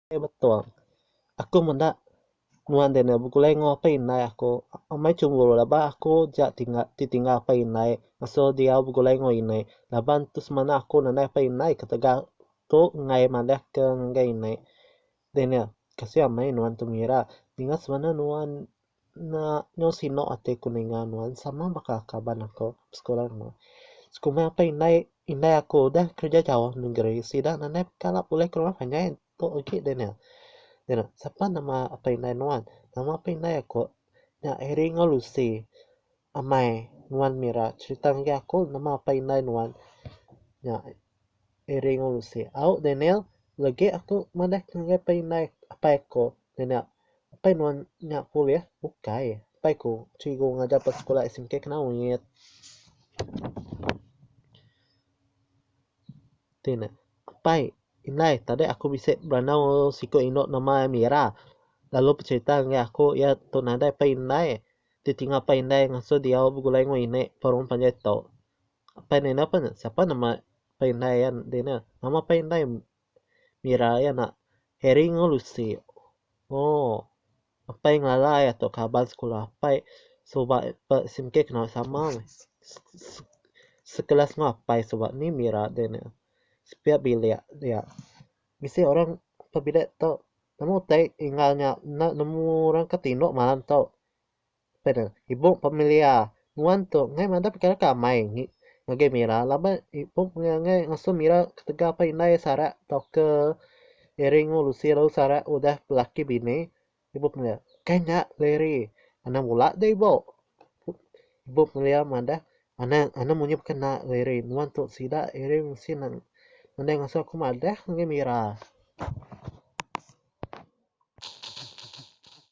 Okey betul. Aku meda nuan Daniel begulai enggau apai indai aku. Amai chemburu laban ba aku aja ti tinggal apai indai ngasuh diau begulai enggau ini. Laban tu semina aku nadai apai indai ketegal tu enggai madahka ngagai ini. Daniel, Kasih amai nuan tu ngira. Ninga semana nuan enda nyau sinu ati aku ninga nuan sama baka kaban aku besekula enggau nuan. Sekumba apai indai indai aku udah kerja jauh negeri sida nadai kala pulih ke rumah panjai tu agi Daniel. Daniel, Sapa nama apai indai nuan? Nama apai indai aku nya Harry enggau Lucy. Amai nuan mira cherita ngagai aku nama apai indai nuan nya. Iring urusi au Daniel legi aku madah ke ngagai pai indai apai aku Daniel apai nuan nya pulih ukai apai ku cikgu ngajar ba sekula SMK Kenawit. Ti ne apai indai tadi aku bisi berandau enggau siku indu nama iya Mira lalu becerita ngagai aku iya tu nadai pai indai ditinga pai indai ngasuh diau begulai enggau ini baru panjai tu. Apai ne enda pun sapa nama apai indai iya enti ne. Nama apai indai mira iya enda Harry enggau Lucy. Ooh apai ngelala iya tu kaban sekula apai suba ba SIM K kena sama meh sekelas enggau apai suba ni mira enti ne. Sepiya bilik iya. Bisi orang ke bilik tu nama utai enggau nya enda nemu orang ke tinu malam tu. Panel, Ibup Pemilia, Nuan tu enggai madah pekara ke amai ngagai Mira laban ibup enggai ngasuh Mira ketegal pan indai sarak tauka Eri enggau Lucy lalu sarak udah belaki bini. Ibup Pemilia, Ukai nya Larry, anang bula deh ibup. Ibup Pemilia madah, Anang anang munyi baka ena Larry, nuan tu sida Eri enggau Lucy nang nadai ngasuh aku madah ngagai Mira.